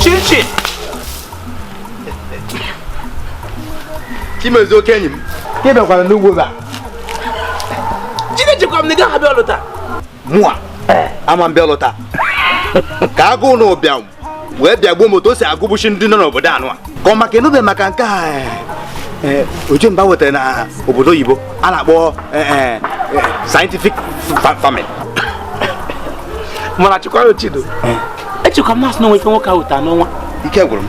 Chichi! Chimezie oke enyi m. Ka ị bịakwara n'ugbo gị a? Jide echekwara m na ị gaghị abịa ọlụ taa. Mụa, ama m bịa ọlụ taa. Ka agụụ na ụbịam wee bịa gbuo m otu o si egbusi ndị nọ n'obodo anụ a ka ọ maka anụbe maka nke a eh, eh, Ojemba wetara na obodo oyibo a na-akpọ eh, scientific farming mana chịkwara ochido echekwa m a sị na o nwe ife nwoke ahụ taa n'ọnwa ike gwụrụ m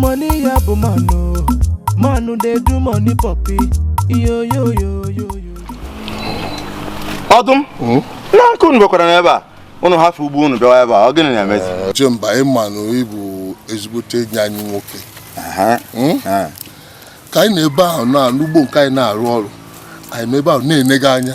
money ya bụ manụ manụ dey do money poppy iyoyoyoyoyo ọdụm hmm? na Akụ unu bịakwara n'ebe a unu hafụ ugbo unu bịawa ebe a ọ gịnị na-emezi Ojemba ị ma na ị bụ ezigbote enyi anyị nwoke hmm? ka anyị nọ ebe ahụ n'ugbo nke anyị na-arụ ọrụ anyị nọ ebe ahụ na-ene gị anya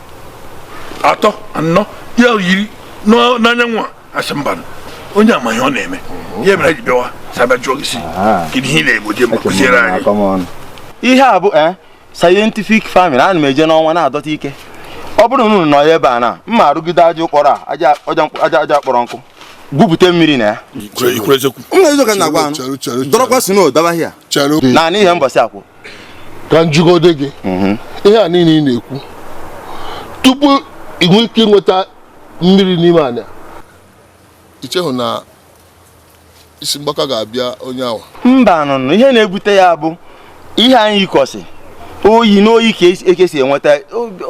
atọ anọ ya yiri n'ọ- n'anyanwụ a asị mba onye amaghị ọ na-eme ya mere anyị ji bịawa sị a bịa jụọ gị sị Aha. kedu ihe ị na-egwu Ojemba kụziere anyị Come on. ihe a bụ eh, scientific farming ana m eje n'ọnwa na-adọta ike ọ bụrụ na unu nọ ya ebe a na m ma arụgide aja a kpọrọ a aja aja mkpọ- aja aja kpọrọ nkụ gwupụta mmiri na ya ikwere eziokwu m na eziokwu ka m na-agwa Chere, chere, nụ chere. dọrọkwa snow daba hia Chere. naanị ihe mbọsị akwụ ka m jụgode gị mhm. ihe a niile ị na-ekwu tupu ị nwee ike ịnweta mmiri n'ime ana ị chehụ na isi mgbaka ga-abịa onye ahụ mba nụnụ ihe na-ebute ya bụ ihe anyị yikọsị oyi na oyi ka e si enweta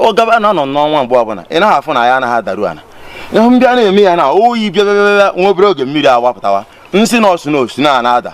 ọ gaba na nọ n'ọnwa mgbe ọbụla ị naghị afụ na ya anaghị adaru ala ihe ndị a na-eme ya na oyi bịa bịa bịa nwa obere oge mmiri awapụtawa nsị na ọsụ na snow na-ada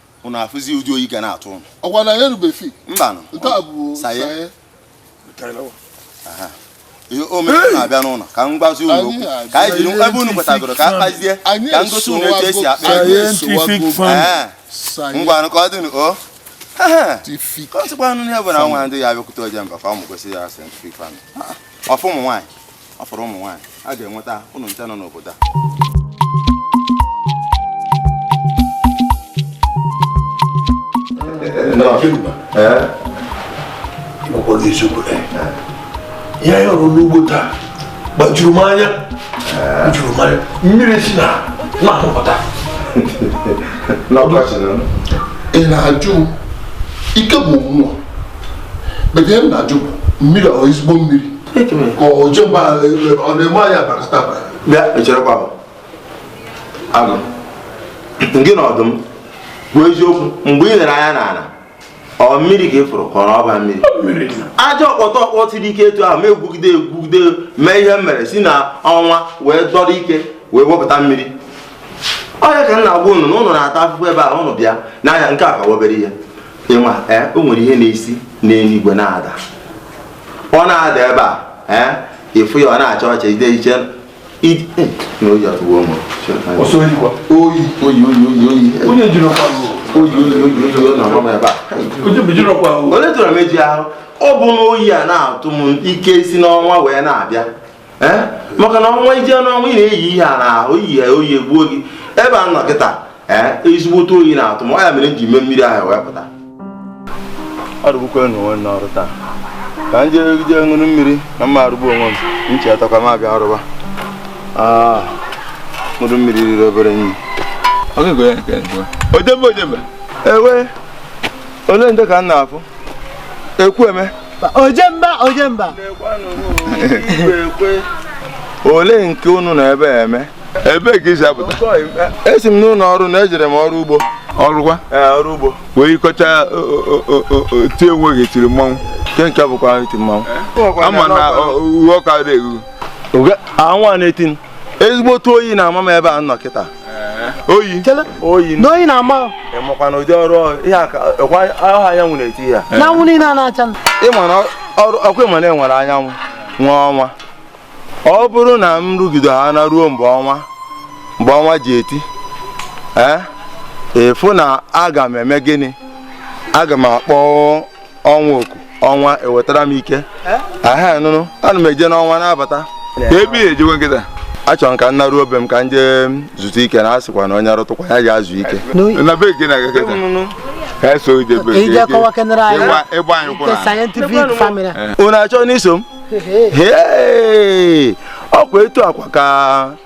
ụnụ afụzi ụdị oyi ga na-atụ ụnụ ọkwa na ya erubefi mbanụ nke a bụ science ihe o mere na-abịa nụnụ ka m gwazi unu okwu ka anyị jiri ebe unu kwetagoro ka a kpazie ka m gosi unu etu e si akpa ngwanụ ka ọ dịnụ o ka ọ sịkwa nụ ihe bụ na nwaanyị a abịakwute Ojemba ka ọ mụ gosi ya scientific farming ọ fọ ụmụ nwaanyị ọ fọrọ ụmụ nwaanyị aga m enweta ụnụ ncha nọ n'obodo a ihe anyị hụrụ n'ugbo taa gbajuru m anya juru m anya mmiri si n'ana apụta ị na-ajụ ike bụ mmụọ but ihe m na-ajụ mmiri ahụ ezigbo mmiri ka Ojemba ọ na-eme anyị abakata abara bịa echerekwa m agụ gị na ọdụm bụ eziokwu mgbe ị lere anya n'ala ọ mmiri ka ị fụrụ ka ọ na ọba mmiri aja ọkpọtọ ọkpọ siri ike etu ahụ m egwugide egwugide mee ihe m mere si na ọnwa wee dọrọ ike wee wepụta mmiri ọ ya ka m na-agwa unu na unu na-ata afụfụ ebe a unu bịa n'ahịa nke a ka wụ obere ihe ịma eh, o nwere ihe na-esi n'eluigwe na-ada ọ na-ada ebe a eh, ị fụ ya ọ na-acha ọcha ide iche eh, na oyi atụwo m oyi oyi oyi oyi oyi onye jiri ọkwa oyi oyi oyi oyi oyi na-agba m ebe a onye tụrụ m eji ahụ ọ bụ na oyi a na-atụ m ike si n'ọnwa wee na-abịa ee maka na ọnwa i jee n'ọnwa ị na-eyi ihe a na oyi ya oyi egbuo gị ebe a nọ kịta ee ezigbote oyi na-atụ m ọ ya mere m ji mee mmiri ahụ wee pụta arụgbukwanụ onwe m n'ọrụ taa ka m jee jee ṅụrụ mmiri na m ma arụgbu onwe m nchi atakwa m abịa arụba Ah, ṅụrụ mmiri riri obere nri Ojemba Ojemba ewe olee ndị ka m na-afụ Ekwueme. Ojemba Ojemba. Olee nke unu na ebe eme? Ebe ka i si apụta? Esi m n'ụlọ ọrụ na ejere m ọrụ ugbo. Ọrụkwa? Ọrụ ugbo. Wee kọcha ti onwe gị tiri mmanwụ. Nke nke bụkwa iti mmanwụ. Ama na uwe ọka dị egwu. Anwụ a na-eti ezigbote oyi na-ama m ebe a nọ kịta oyi oyi n'oyi na-ama ị makwa na ụdị ọrụ ihe aka ọkwa ọha anyanwụ na-eti ya na anwụ niile a na-acha m. ị ma na ọrụ ọkwa ị ma na e nwere anyanwụ nwee ọnwa ọ bụrụ na m rụgido ha na ruo mgbe ọnwa mgbe ọnwa ji eti ee ị fụ na aga m eme gịnị aga m akpọ ọnwa oku ọnwa ewetara m ike aha nụnụ ana m eje n'ọnwa na-abata ebe ihe ejikwa kịta achọrọ m ka m naruo be m ka m jee zutu ike na a sịkwa na onye rụtụkwa ya jee zuo ike na be gị na-aga kịta ka eso ije be gị ije kọwakenere anyị ịgba ịgba anyị kwụrụ nke scientific family unu achọna iso m Hee! ọkwa etu akwa ka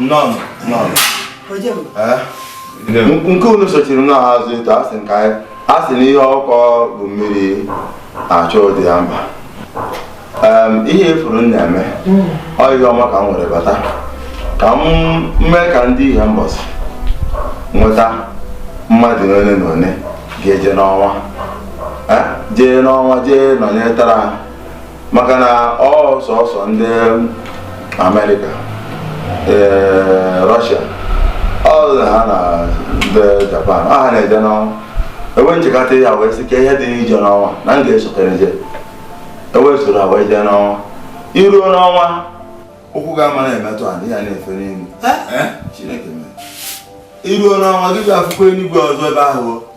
None, none. nke unu sochiri n'azụ etu a sị nke anyị a sị na ihe ọkụkọ bu mmiri achọ dị ya mkpa ihe ị fụrụ m na-eme ọ ihe ọma ka m were bata ka m mee ka ndị Ihembosi nweta mmadụ ole na ole ga-eje n'ọnwa jee n'ọnwa jee nọnyetara ha maka na ọ sọsọ ndị amerịka ee russia ọ ha na ndị japan ọ ha na-eje n'ọnwa e wee m chekata ya wee sị kee ihe dị n'ije n'ọnwa na m ga-esokere je e wee soro ha wee jee n'ọnwa i ruo n'ọnwa ụkwụ gị ama na-emetụ ala ị ya na-efe n'elu chineke mere i ruo n'ọnwa gị ga-afụkwa eluigwe ọzọ ebe ahụ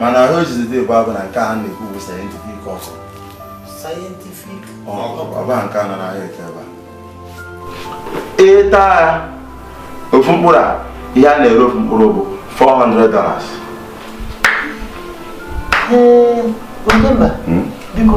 mana ahụ ojizi dị bụ abụ na nke a na-ekwu bụ scientific okra scientific okra ọba nke a nọ n'ahịa eke ebe a ị taa ya ofu mkpụrụ a ihe a na-ere ofu mkpụrụ bụ 400 dollars ee onye mba biko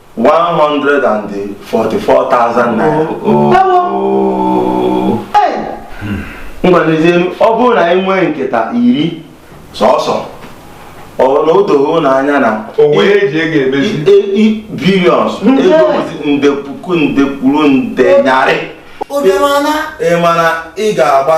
144,000 naira ngwa nezienụ ọ bụrụ na anyị nwee nkata iri sọsọ ọ bụ na o doghị ụnụ anya na onwe ya eji ego emezi billions ego bụzi nde puku nde kwuru nde nyarị ị ma na ị ga-agba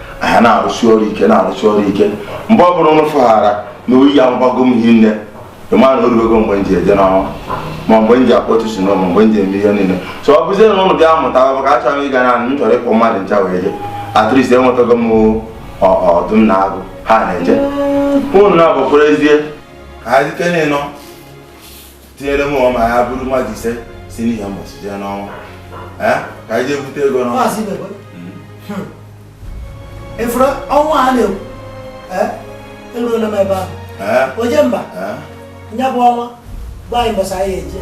ha na-arụsi ọrụ ike na-arụsi ọrụ ike mgbe ọ bụla ụnụ fụghara na oyi ya mgbago m hi nne ị ma na o rugo mgbe m ji eje n'ọnwa ma mgbe m ji akpọtụ si n'ụlọ mgbe m ji eme ihe niile so ọ bụzie na ụnụ bịa mụta maka achọrọ m ịga na m chọrọ ịkpọ mmadụ ncha wee je at least enwetago m ọdụm na agụ ha na-eje ụnụ naabọ kwụrụzie ka ha zite n'ịnọ tinyere mụwa ya bụrụ mmadụ ise si n'ihembosi jee n'ọnwa ka anyị jee bute ego n'ọnwa efere ọnwa a na-ekwu eruola m ebe ahụ ojemba ya bụ ọnwa gwa anyị mbọsị anyị eje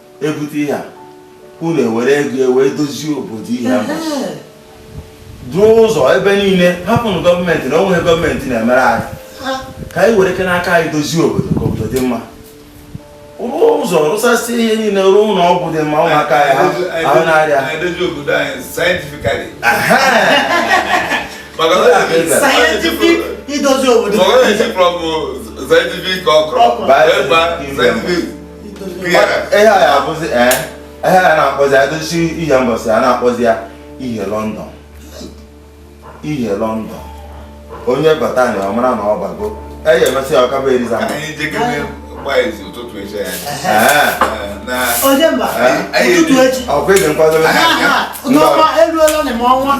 e bute ihe a unu ewere ego e wee dozie obodo ihe a duo ụzọ ebe niile hapụnụ gọọmenti na o nweghị gọọmenti na-emere anyị ka anyị were ike n'aka anyị dozie obodo ka obodo dị mma rụọ ụzọ rụsasị ihe niile rụọ ụlọ ọgwụ dị mma ụmụaka ya ahụ na-arịa idozi obodo scientific okra scientific ihe a ya abụzi ee eh, ihe a na-akpọzi a dozie ihembosi a na-akpọzi ya ihe london ihe london onye bata na ọ mara na ọ bago eyi e mesịa ọ ka be eliza ọ kwa ị dị nkwadobe n'ọnwa eruola na ọnwa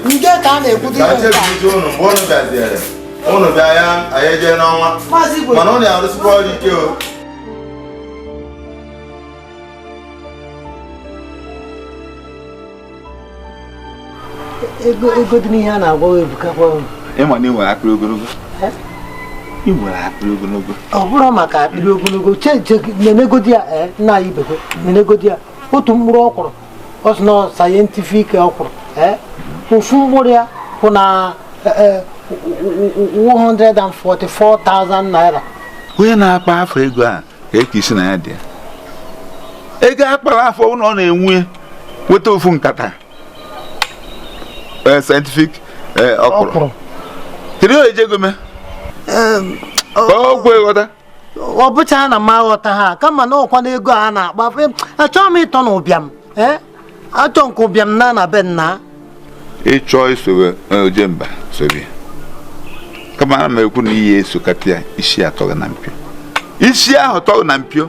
nke ka a na-ekwute ụnụ mgbe ụnụ bịaziere ụnụ bịa ya anyị jee n'ọnwa mana ụnụ ya arụsịkwa ọrụ ike o ego ego dị n'ihe a na-agwa ebukakwa ị ma na ị nwere akpịrị ogologo ị nwere akpịrị ogologo ọ bụrụ maka akpịrị ogologo cheche nenegodi ya nna anyị biko nenegodi ya otu mkpụrụ ọkwụrụ ọ sị na ọ scientific ọkwụrụ eh? ofu mkpụrụ ya kwụ na eh, eh, 144,000 naira onye na-akpa afọ ego a ka eke isi na ya dị ya ego a kpara afọ ụlọ ọ na-enwe weta ofu nkata eh, scientific eh, ọkwụrụ ọkwụrụ kedu ihe o ji ego mee Em, ọ- ka ọ kwe ghọta ọ bụchaha na m aghọtaha kama na ọ kwa na ego a na-akpa achọghị m ịtọ n'ụbịam ee achọ nke ụbịam na na be nna ị chọọ isowe Ojemba sobe kama ana m ekwu na ihe e sokata ya isi atọ gị na mpio isi ahụ tọ gị na mpio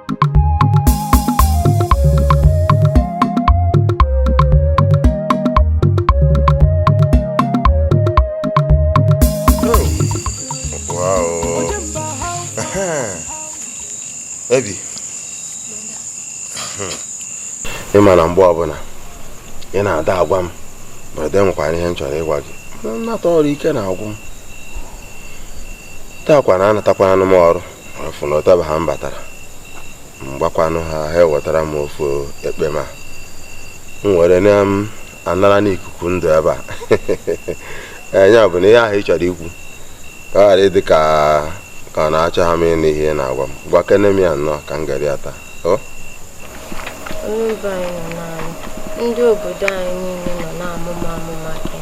ebi ị ma na mgbe ọbụla ị na-ada agwa m ma ede nwekwara ihe m chọrọ ịgwa gị m nata ọrụ ike na-agwụ m taakwa na anatakwaranụ m ọrụ afụ na ọtaba ha m batara m gbakwanụ ha ha ewetara m ofu ekpem a m were na m anara n'ikuku ndụ ebe a nya bụ na ihe ahụ ị chọrọ ikwu ka ọ ghara ịdị ka ka na achọha m ịnụ ihe ị na-agwa m gwakene m ya nnọọ ka m geri ya taa ndị obodo anyị niile nọ na-amụ m amụ maka gị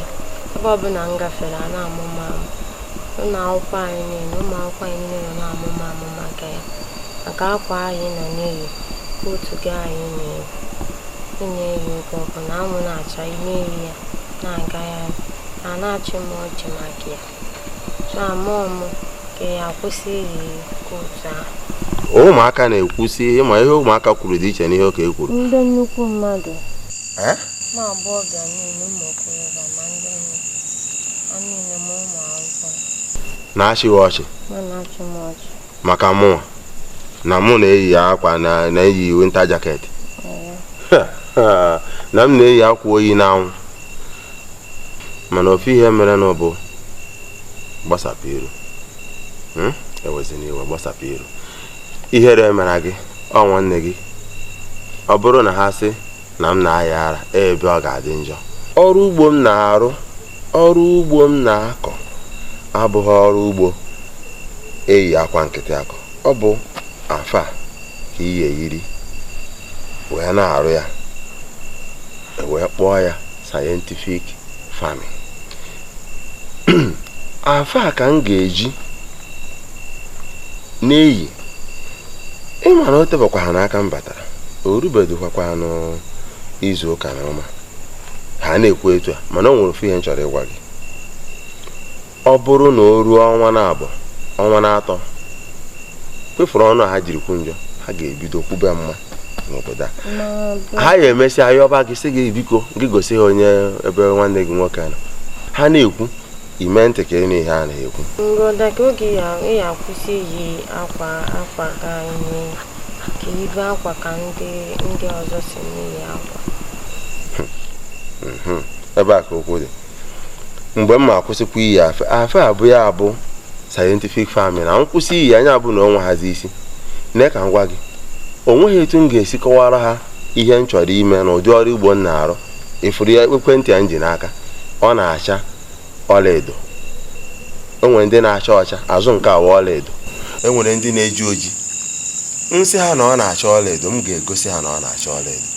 ebe ọbụla m gafere a na-amụ m amụ ụlọ akwụkwọ anyị niile ụmụ akwụkwọ anyị niile nọ na-amụ m amụ maka ya maka akwa a ị nọ na-eyi kootu gị a ị na-eyi ị na-eyi oge ọbụla anwụ na-acha ị na-eyi ya na-aga ya a na-achị m ọchị maka ya ụmụaka na-ekwusi ị ma ihe ụmụaka kwuru dị iche n'ihe okenye kwuru ndị nnukwu mmadụ na-achị gị ọchị maka mụnwa na mụ na-eyi akwa na-eyi winter jacket na m na-eyi akwa oyi n'anwụ mana ofu ihe meere m bụ gbasapụ iru hmm? ewezina iwe gbasapụ iru ihere emera gị ọ nwanne gị ọ bụrụ na ha sị na m na-aya ara ebe ọ ga-adị njọ ọrụ ugbo m na-arụ ọrụ ugbo m na-akọ abụghị ọrụ ugbo e yi akwa nkịtị akọ ọ bụ afe a ka ị ya eyiri wee na-arụ ya e wee kpọọ ya scientific farming afe a ka m ga-eji na-eyi ị ma na o tebekwa ha n'aka m batara o rubedịkwakwa n'izu ụka naabọ ha na-ekwu etu a mana o nwere ofu ihe m chọrọ ịgwa gị Ọ bụrụ na o ruo ọnwa naabọ, ọnwa naatọ, kwefụrụ ọnụ a ha jiri kwuo njọ, ha ga-ebido kwube mma n'obodo a. Ha ya emesịa yọba gị sị gị biko gị gosi ha onye ebe nwanne gị nwoke nọ. Ha na-ekwu, i mee ntị ka ị nụ ihe ha na-ekwu. Broda kee oge ị ya akwụsị iyi akwa akwa ka anyị ka i yibe akwa ka ndị ndị ọzọ si na-eyi akwa. Mhm. Ebe a ka okwu dị. mgbe m ma akwụsịkwa iyi afe afe a bụ ya bụ scientific farming na m kwụsị iyi ya ya bụ na o nwehazi isi nne ka m gwa gị o nweghị etu m ga-esi kọwara ha ihe m chọrọ ime na ụdị ọrụ ugbo m na-arụ ị fụrụ ya ekwentị a m ji n'aka ọ na-acha ọlaedo e nwere ndị na-acha ọcha azụ nke a wa ọlaedo e nwere ndị na-eji oji m sị ha na ọ na-acha ọlaedo m ga-egosi ha na ọ na-acha ọlaedo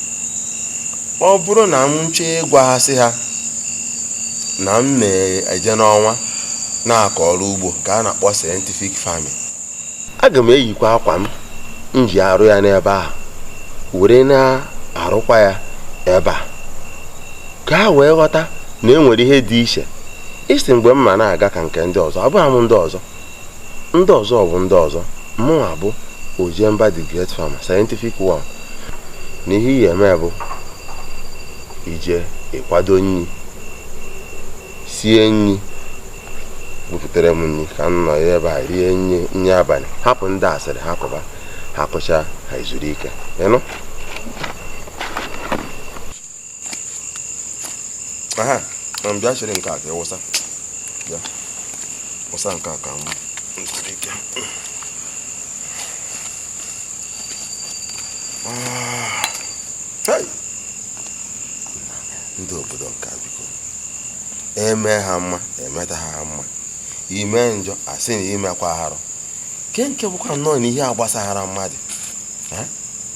ọ bụrụ na m chọọ ịgwaghasị ha na m na-eje n'ọnwa na-akọ ọrụ ugbo nke a na-akpọ scientific farming aga m eyikwa akwa m ji arụ ya n'ebe a were na-arụkwa ya ebe a ka ha wee ghọta na e nwere ihe dị iche ị sị mgbe m ma na-aga ka nke ndị ọzọ abụghị m ndị ọzọ ndị ọzọ bụ ndị ọzọ mụnwa bụ ojemba the great farmer scientific one na ihe ị ya eme bụ i jee kwado nri sie nri buputere m nri ka m nọ ebe a rie nri nri abalị hapụ ndị asịrị hapụba ha kụcha ha ezuru ike ị nụ aha na m bịa chịrị nke a ka ịwụsa ya wụsa nke a ka m ah. ndị obodo nke a biko e mee ha mma emetaha ha mma i mee njọ a sị na i mekwa arụ nke nke bụkwa nnọọ na ihe agbasahara mmadụ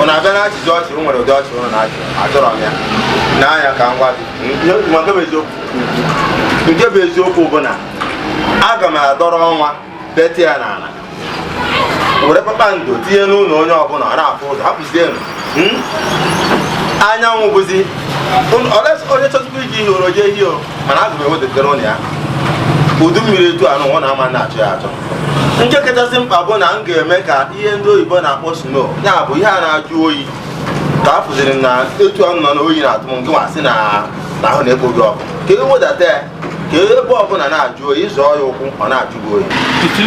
ụnụ abịa na-achị ọchị o nwere ụdị ọchị ụnụ na-achị achọrọ m ya n'anya ka m gwa gị nke bụ eziokwu nke bụ eziokwu bụ na aga m adọrọ ọnwa beti ya n'ala were kpakpando tinye n'ụlọ onye ọbụla ọ na-afụ ụzọ hapụzienụ anyanwụ bụzi onye chọtụkwa iji ihe oro jee ihe o mana aga m ewedatara ụnụ ya udu mmiri etu anụ na-ama na-achọ ya achọ nke kachasị mkpa bụ na m ga-eme ka ihe ndị oyibo na-akpọ snow ya bụ ihe a na-ajụ oyi ka a fụziri na etu a m nọ na oyi na-atụ m ngịwa sị na ahụ na-ekpo gị ọkụ ka e wedata ya ka ebe ọbụla na-ajụ oyi ị zọọ ya ụkwụ ọ na-ajụ gị oyi ị sị m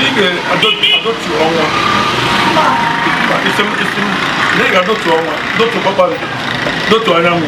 ị sị m na ị ga-adọtu ọnwa dọtu kpakpando dọtu anyanwụ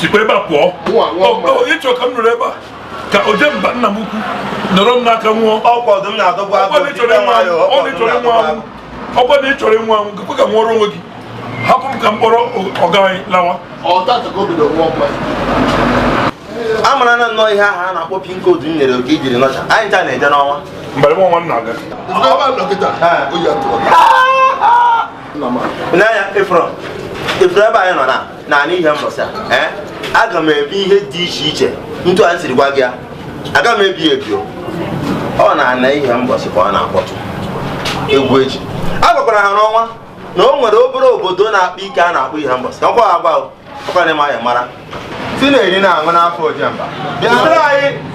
sikwa ebe a pụọ ị chọ ka m nọrọ ebe a ka ojemba nna m ukwu nọrọ m n'aka nwụọ ọkwa na ị chọrọ ịnwụ anwụ gakwa ka nwụọrọ onwe gị hapụ m ka m kpọrọ ọga anyị lawa a mara na nnọọ ihe ahụ a na-akpọ pin code m nyere oke ijiri nọcha anyị ncha na-eje n'ọnwa mgbe nwa nwa m na-aga n'anya efrọ efrọ ebe anyị nọ na na n'ihembọsị a aga m ebi ihe dị iche iche etu a m siri gwa gị ya aga m ebi ebi ọ naanị ihembọsị ka ọ na-akpọtụ egwu eji a gwakwara ha n'ọnwa na o nwere obere obodo na-akpa ike a na-akpọ ihembọsị ọkwa agwa ọkwa na-eme anya mara si na-eri na-aṅụ n'afọ ojemba bịara anyị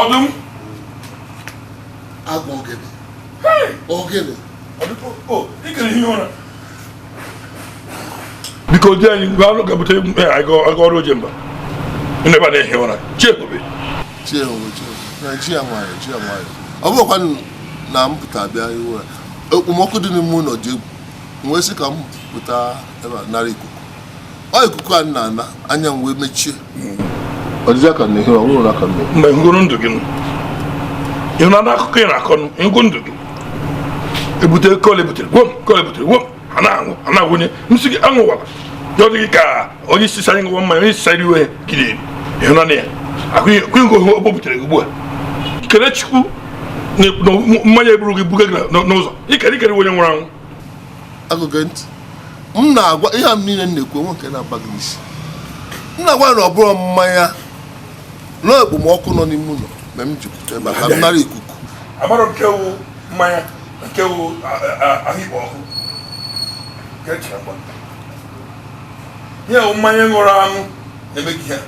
ọdụm agwa ogene ogene ikere ihe ụra biko di anyị mgbe anụ ga-ebute aga ọrụ ojemba ebe a na-ehi ụra chi ebube chi ebube chi ya nwayọ chi ya nwayọ ọ bụrọkwa na m pụta bịa ihi ụra okpomọkụ dị n'ime ụlọ dị egwu m wee sị ka m pụta ebe a nara ikuku ọ ikuku a m na-ana anya m wee mechie mgbe ngụrụ ndụ gị ị hụ na akụkọ ị na-akọ ngụ ndụ gị ebute kole butere gwom kole butere gwom a na-aṅụ a na-awụnye nsị gị aṅụwala ya ọ dịghị ka onye isi sara ngwa mmanya onye isi sara iwe gide ịhụ na ya akụghị ngụ hụ ọgbọ butere gị ugbu a kele chukwu na mmanya eburu gị buga gị n'ụzọ ikere ikere onye nwụrụ anwụ agụge ntị m na-agwa ihe a m niile m na-ekwu o nwe nke na-aba gị n'isi m na-agwa ya na ọ bụrọ mmanya na okpomọkụ nọ n'ime ụlọ me m ji pụta ebe a ka m nara ikuku amarọ nke wụ mmanya nke wụ ahụ ikpo ọkụ nke chara gba ihe wụ mmanya ṅụrụ aṅụ na-eme gị ya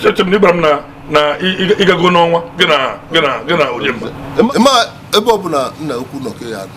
echere m na ị gwara m na na ị- ị- ị gago n'ọnwa gị na gị na gị na ojemba ma ebe ọ bụla nna ukwu nọ ka ya dị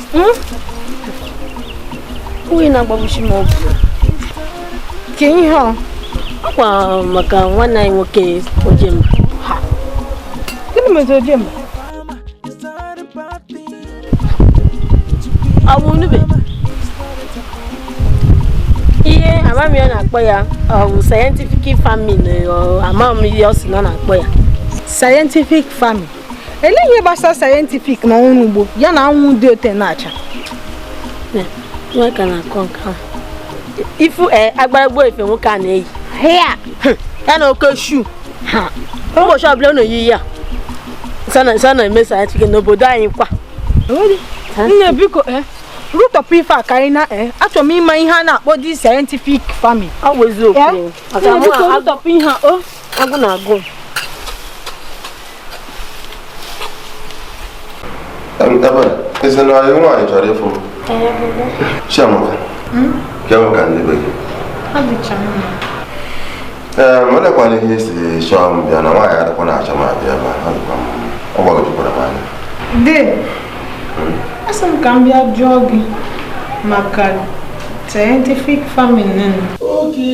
hmm? onye na-agbagbuchi m obi ka ihe ọ kwa maka nwanne anyị nwoke ojemba gịnị mezi ojemba ọ bụ nube ihe amam ihe ọ na-akpọ ya ọ bụ scientific farming eh, amam ihe ọ sị na ọ na-akpọ ya scientific farming Elee ihe gbasara sayentifik na ọrụ ugbo ya na anwụ dị ote na-acha? Nwa ka na-akọ nke ahụ. Ị fụ eh, agbara gboo ife nwoke a na-eyi. Hea! Ya na oke shu. Ụbọchị ọbụla ọ na-eyi ya. Nsa na-eme sayentifik n'obodo anyị kwa. Nne biko eh, rụtọpụ ife a ka anyị na eh, achọrọ m ịma ihe a na-akpọ di sayentifik famin. Ọ bụ eziokwu. Maka mụ a- Rụtọpụ ihe a o. agụ na-agụ eze na anyị nwaanyị chọrọ ịfụ chiamaka bịa maka ndị be gị ee m elekwana ihe esi chọọ m bịa na nwaanyị adịkwa na-achọ m abịa ebe a dịkwa m ọ gbagwojukwara m anya de asị m ka m bịa jụọ gị maka scientific farming nne m oge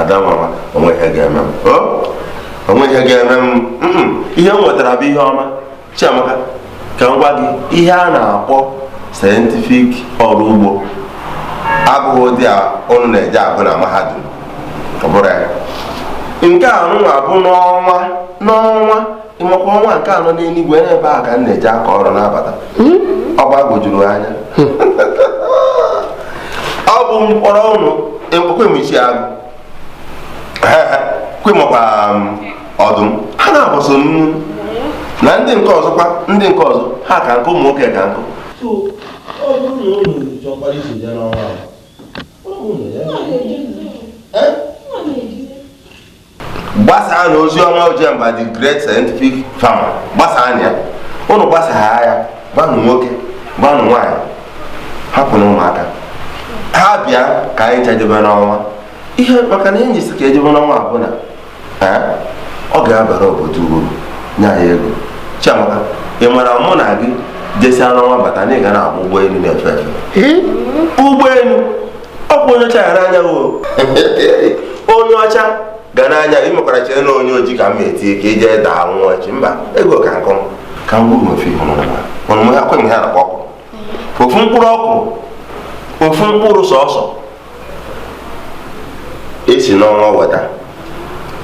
adamma o nweghị ihe ga-eme m o nweghị ihe ga-eme m ihe m wetara bụ ihe ọma chiamaka ka m gwa gị ihe a na-akpọ sayentifik ọrụ ugbo abụghị ụdị a ụnụ na-eje agụ na mahadum ọ bụrọ ya nke a nụwa bụ n'ọnwa n'ọnwa ịmakwa ọnwa nke nọ n'eluigwe n'ebe a ka m na-eje akọ ọrụ na-abata hmm? ọ gbagwojuru anya hmm. ọ bụ m kpọrọ ụnụ ekwemechi agụ kwemakwa um, ọdụm ha na-abụso nnu na ndị nke ọzọkwa ndị nke ọzọ ha ka nkụ ụmụ nwoke ka nkụ ọ bụrụ na ụnụ chọkwara iso ya n'ọnwa gbasaanụ ozi ọma ojemba the great scientific farmer gbasaanụ ya ụnụ gbasaa ya gbanụ nwoke gbanụ nwaanyị hapụnụ ụmụaka ha bịa ka anyị chajebe n'ọnwa ihe maka na e ji sị ka e jebe n'ọnwa bụ na ọ ga-abara obodo uru nye anyị ego chiamaka ị mara mụ na gị jesịa n'ọnwa bata na ị ga na-agba ụgbọelu na-efe efe ụgbọelu ọ bụ onye ọcha ga na-anya onye ọcha ga na-anya i mekwara chere na onye ojii ka m etinye ka i je daa nwụọ echi mba ego ka nkụ ka m gburu ofe ihe ọnụnụ ha kwenye ha nakwa ọkụ ofu mkpụrụ ọkụ ofu mkpụrụ sọsọ e si n'ọnwa weta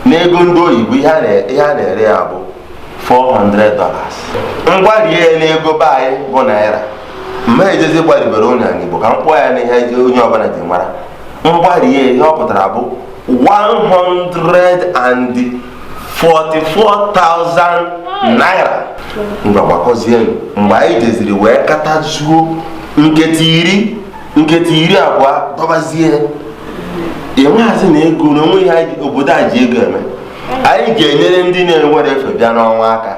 n'ego ndị oyibo ihe a na-ere ya bụ 400 dollars m gbarie ya n'ego be anyị bụ naira m ma ejezi gbaribere unu ya n'Igbo ka m kpọọ ya n'ihe onye ọbụla ji mara m gbarie ihe ọ pụtara bụ 144,000 naira ngwa gbakọzie mgbe anyị jeziri wee kọtazuo nketa iri nketa iri abụọ dọbazie enweghazị na ego na o nwe ihe obodo a ji ego eme anyị ga-enyere ndị na-enwerọ efe bịa n'ọnwa aka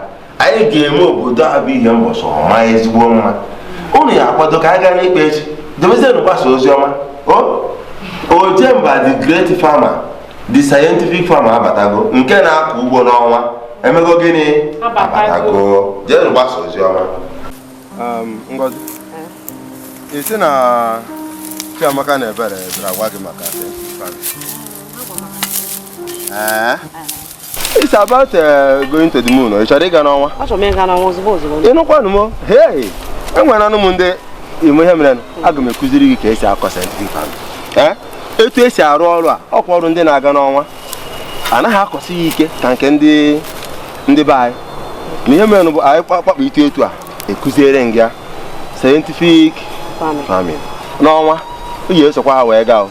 anyị ga-eme obodo a bụ Ihembọsị ọ maa ezigbo mma unu ya akwado ka a gaa n'ikpe echi jebezienụ gbasa ozi ọma ojemba the great farmer the scientific farmer abatago nke na-akọ ugbo n'ọnwa emego gịnị abatago jeenụ gbasa ozi ọma um, ngozi ị sị na chiamaka na ebere bịara gwa gị maka Eh? It's about uh, going to the moon. Ị chọrọ ịga n'ọnwa? Achọrọ m ịga n'ọnwa ozugbo ozugbo. Ịnụkwanụ m, hey! Enwere anụ m ndị ime ihe mere aga m ekụziri gị ka esi akọ scientific farming. Eh? Etu esi arụ ọrụ a, ọ kwa ọrụ ndị na-aga n'ọnwa. Anaghị akọsi ya ike ka nke ndị ndị be anyị. Na ihe mere bụ anyị kpakpọ ite etu a ekụziere m gị ya scientific farming. N'ọnwa, ị ya esokwa ha wee gaa o.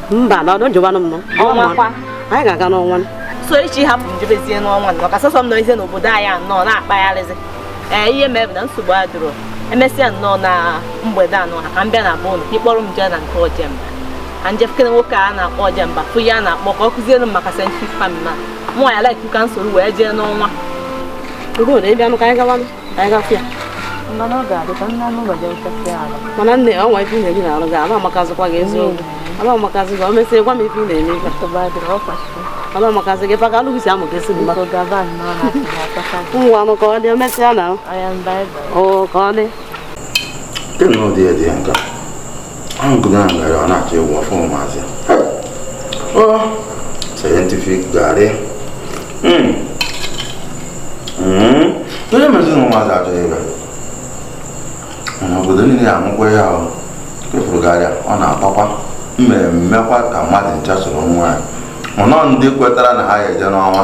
mba na ọdụ njụbanụ m ọnwa kwa anyị ga-aga n'ọnwa so echi hapụ m jebezie n'ọnwa nọ ka sọsọ m nọzie n'obodo anyị a nọ na-akpagharịzi ee ihe mere na nsogbu adịrọ emesịa nnọọ na mgbede anọ ha ka m bịa na be unu ka ị kpọrọ m jee na nke ojemba ka m je fụkene nwoke a na-akpọ ojemba fụ ya na-akpọ ka ọ kụziere m maka scientific farming na mụ ya like ka m soro wee jee n'ọnwa ruo na ịbịanụ ka anyị gawanụ mana nne o nwe ife ị na-eri na arụ gị ama amakazịkwa gị eziokwu ama amakazị gị o mesịa gwa m ife ị na-eme ife ama amakazị gị fụ ka arụ gị si amụ gị si mma ngwanụ ka ọ dị o mesịa na o ka ọ dị Kedu nnọọ ụdị ihe dị nka? Angụrụ a mere ọ na-achọ ịwụ ọfọ ụmụazị. Oh, scientific garị. Mm. Mm. Onye mezi na ụmụazị achọghị ịbịa. Mana obodo niile ya anụkwa ya o. Kefuru garị a, ọ na-akpakwa. M ma emekwa ka mmadụ ncha soro ṅụọ ya. Mana ọ ndị kwetara na ha ga-eje n'ọnwa.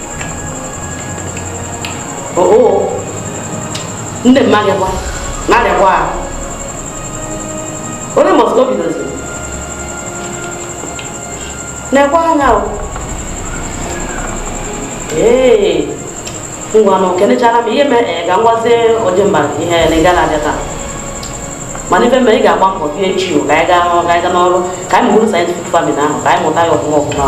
ndị mmadụ gwa na-arịakwa ahụ onye mọsụ obi dozi na-ekwe anya o ee ngwa na okenechara m ihe mee eh, ka m gwazie ojemba ihe na ị gara abịa taa mana ife mere ị ga-agba mbọ bịa echi o ka anyị gaa n'ọrụ ka anyị gaa n'ọrụ ka anyị mụrụ scientific farming ahụ ka anyị mụta ya ọfụma ọfụma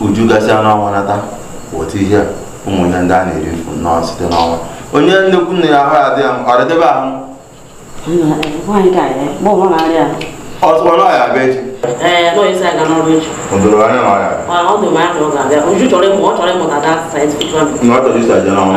uju gasịa n'ọnwa nata weta ihe a ụmụ ihe ndị a na-eri mfu nnọọ site n'ọnwa onye nnekwu nne ya ahụ adị ya ọ dịdebe ahụ ọtụkwa na ọ ya-abịa echi o doro anya na ọya na ọ chọrọ iso je n'ọnwa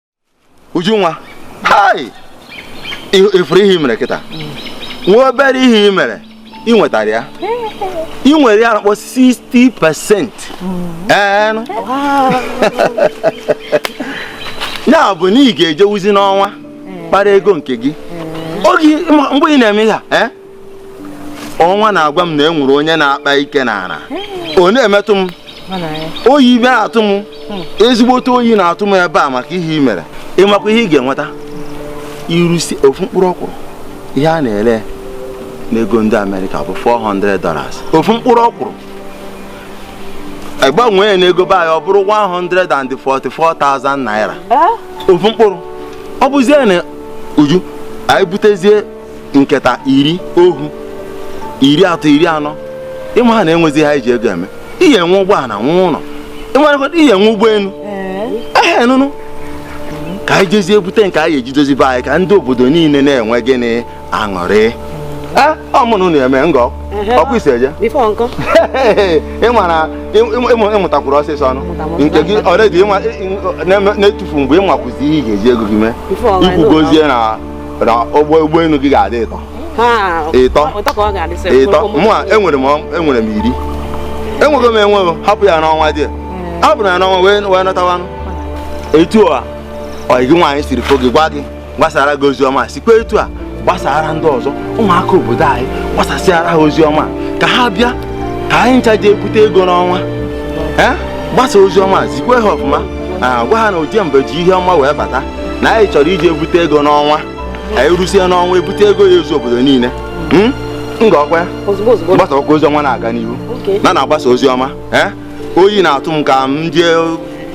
Ujunwa ị furu ihe i mere kịta nwa obere ihe ị mere ị nwetara ya ị nwere ihe a na-akpọ 60 percent ya bụ na ị ga-ejewuzi n'ọnwa kpara ego nke gị oge mgbe ị na-eme ya eh? ọnwa na-agwa m na e nwere onye na-akpa ike n'ala ọ na-emetụ m oyi ibe na-atụ m hmm. ezigbote oyi na-atụ m ebe a maka ihe i mere ị makwa ihe ị ga-enweta ị rụsịa ofu mkpụrụ ọkwụrụ ihe a na-ere n'ego ndị Amerịka bụ 400 dollars ofu mkpụrụ ọkwụrụ a gbanwee ya n'ego be anyị ọ bụrụ 144,000 naira ofu mkpụrụ ọ bụzie na Uju anyị butezie nketa iri ohu iri atọ iri anọ ịma ha na-enwezi ha iji ego eme ihe enwe ụgbọala nwe ụlọ ịmarakọta ihe enwe ụgbọelu ehe nụnụ ka anyị jezie bute nke anyị eji dozie be anyị ka ndị obodo niile na-enwe gịnị aṅụrị ọmụnụ na-eme ngọ ọkụ isi eje ịmụtakwuru ọsịsọ ọnụ nke gị ọredi na-etufu mgbe ị makwazi ihe ị ga-eji ego gị mee i kwugozie na na ụgbọ ụgbọelu gị ga-adị ịtọ Ha, Ịtọ. ụtọ ka ọ ga-adị sị, ịtọ ụmụ- mụ a enwere m ọ- enwere m iri enwego m enwego hapụ ya n'ọnwa dị hapụrụ ya n'ọnwa wee wee nọtawanụ etu a ọ gị nwaanyị siri fụ gị gwa gị gbasara gị ozi ọma sikwa etu a gbasara ndị ọzọ ụmụaka obodo anyị gbasasịara ha ozi ọma ka ha bịa ka anyị ncha ji ebute ego n'ọnwa ee gbasa ozi ọma zikwe ha ọfụma Ah, gwa ha na Ojemba ji ihe ọma wee bata na anyị chọrọ iji ebute ego n'ọnwa anyị rụsie n'ọnwa ebute ego ya ezu obodo niile hmm? ngwa ọkwa ya gbasakwa ozi ọma na-aga n'ihu na na-agbasa ozi ọma eh? oyi na-atụ m ka m jee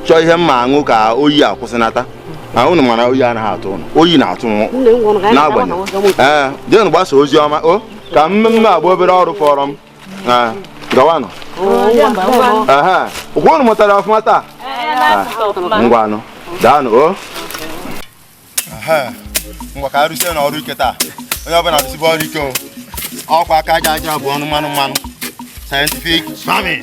chọọ ihe m ma-aṅụ ka oyi akwụsị na-atụ m ụnụ ma na oyi anaghị atụ ụnụ oyi na-atụ m n'agbanyeghị ee eh, jeenụ gbasa ozi ọma o oh, ka mmemme agba obere ọrụ fọrọ m Ah, gawanụ aha ọkwa unu mụtara ọfụma taa Ah, ngwanụ daanụ o ngwa ka a rụsienụ ọrụ ike taa onye ọbụla arụsibe ọrụ ike o ọkwa aka aja aja bụ ọnụ mmanụ mmanụ scientific farming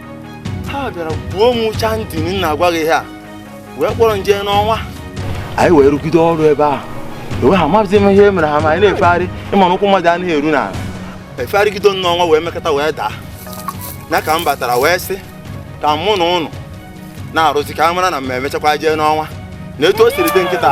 ha bịara gbuo m ụcha ndị m na-agwa gị ihe a wee kpọrọ m jee n'ọnwa anyị wee rụgide ọrụ ebe ahụ enwe ha amaghịzi m ihe e mere ha ma anyị na-efegharị ị ma na ụkwụ mmadụ anaghị eru n'ala efegharịgido n'ọnwa wee mekata wee daa na ka m batara wee sị ka mụ na ụnụ na-arụzi ka a mara na m emechakwa jee n'ọnwa na etu o siri dị kịta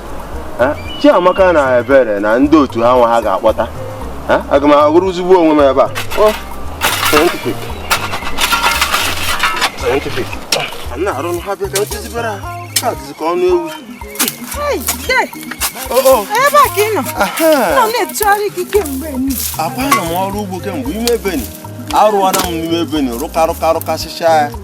Chiamaka na Ebere na ndị otu ha nwa ha ga-akpọta aga m agụrụ ozugbo onwe m ebe a scientific scientific na-arụ ha bịa ka m kụzibere ha ka dịzi ka ọnụ ewu ebe a ka ị nọ nọ na-etụgharị gị kemgbe akwa na m ọrụ ugbo kemgbe ime beni arụwana m n'ime beni rụkarụkarụkasịcha ya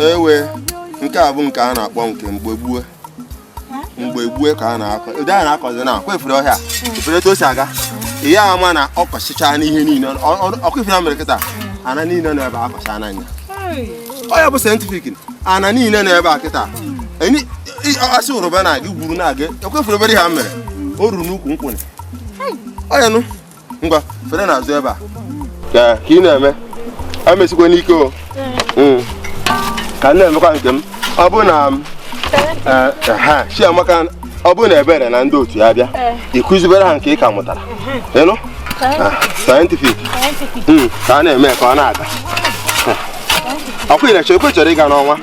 ewe nke a bụ nke a na-akpọ nke mgbe gbue mgbe gbue ka a na-akọ ụdị a na-akọzi na akwa efere ọhịa efere etu o si aga ihe ama na ọ kọchịcha n'ihe niile ọkwa ife mere kịta ana niile nọ ebe a kọcha n'anya ọ ya bụ scientific ana niile nọ ebe a kịta a sị rụba na-aga gwuru na-aga ekwefere obere ha mere o ruru n'ukwu nkwụnị oya nụ ngwa fere n'azụ ebe a ka ị na-eme emesikwa n'ike o hmm. ka m na-emekwa nke m ọ bụ na eh, ha chiamaka ọ bụ na ebere na ndị otu ya bịa ị kụzibere ha nke ị ka mụtara ị nụ ah, scientific hmm, ka a na-eme ka ọ na-aga ọkwa ị na-eche ekwe chọrọ ịga n'ọnwa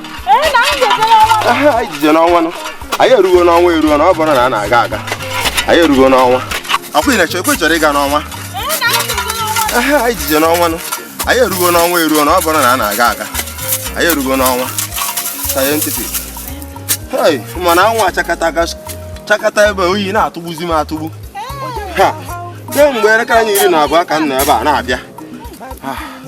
ijije n'ọnwa nụ anyị erugo n'ọnwa eruo na ọ bụrụ na a na-aga aga anyị erugo n'ọnwa ọkwa ị na-eche ekwe chọrọ ịga n'ọnwa aha anyị jije n'ọnwa nụ anyị erugo n'ọnwa eruo na ọ bụrụ na a na-aga aga anyị erugo n'ọnwa scientific hei mana anwụ achakata aka chakata ebe oyi na-atụgbuzi m atụgbu ha kemgbe elekere anya iri na abụọ ka m nọ ebe a na-abịa